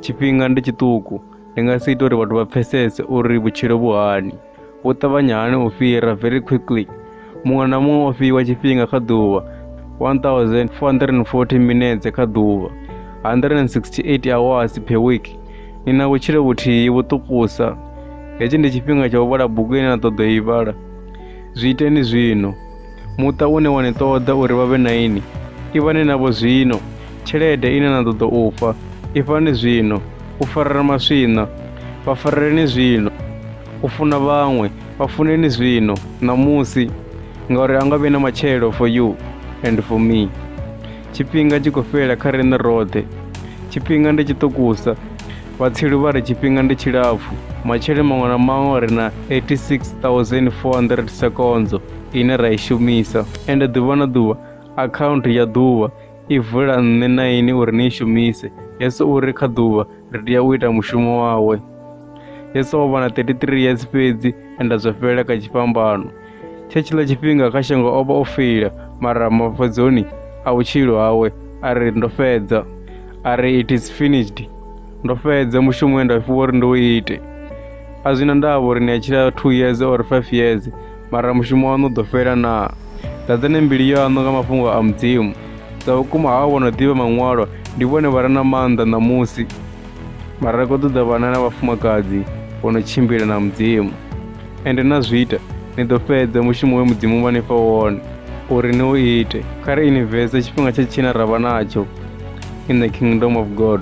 tshifhinga ndi tshiṱuku ndi nga si ita uri vhathu vha pfesese uri vhutshilo vhu hani vhu ṱavhanya hani u fhira very quickly muṅwe na muṅwe o fhiwa tshifhinga kha ḓuvha 1440 minetse kha ḓuvha 168 hours per week ni na vhutshilo vhuthihi vhuṱukusa hetshi ndi tshifhinga tsha u vhala bugu ine na ṱoḓa u i vhala zwi iteni zwino Muṱa une wa ni ṱoḓa uri vha vhe na ini, ivhani navho zwino. Tshelede ine na ṱoḓa u fha, ifhani zwino. U farela maswina, vha fareleni zwino. U funa vhaṅwe, vha funeni zwino, ṋamusi, ngauri a nga vhi na matshelo for you and for me. Tshifhinga tshi khou fhela kha riṋe roṱhe. Tshifhinga ndi tshiṱukusa. Vhatsilu vha ri tshifhinga ndi tshilapfu. Matshelo maṅwe na maṅwe ri na 86 400 sekondzo. ine ra i shumisa ende ḓuvha na ḓuvha akhaunthu ya ḓuvha i vula nṋe na ini uri ni i shumise yesu u ri kha ḓuvha ri tea u ita mushumo wawe yesu o vha na 33 years fhedzi enda zwa fhelela kha tshifhambano tshe tshiḽa tshifhinga kha shango o vha o feila mara mafhedzoni a vhutshilo hawe a ri ndo fhedza a ri it is finished ndo fhedza mushumo we nda fhiwa uri ndi u ite a zwi na ndavha uri ni a tshila two years or five years mara mushumo waṋu u ḓo fhela naa ḓadzani mbilu yaṋu nga mafhungo a mudzimu sa vhukuma havho vho no ḓivha maṅwalo ndi vhone vha re na maanḓa ṋamusi mara ri khou ṱoḓa vhana na vhafumakadzi vho no tshimbila na mudzimu ende na zwi ita ni ḓo fhedza mushumo we mudzimu vha ni fha wone uri ni u ite kha ri inivese tshifhinga tsha tshina ra vha natsho in the kingdom of god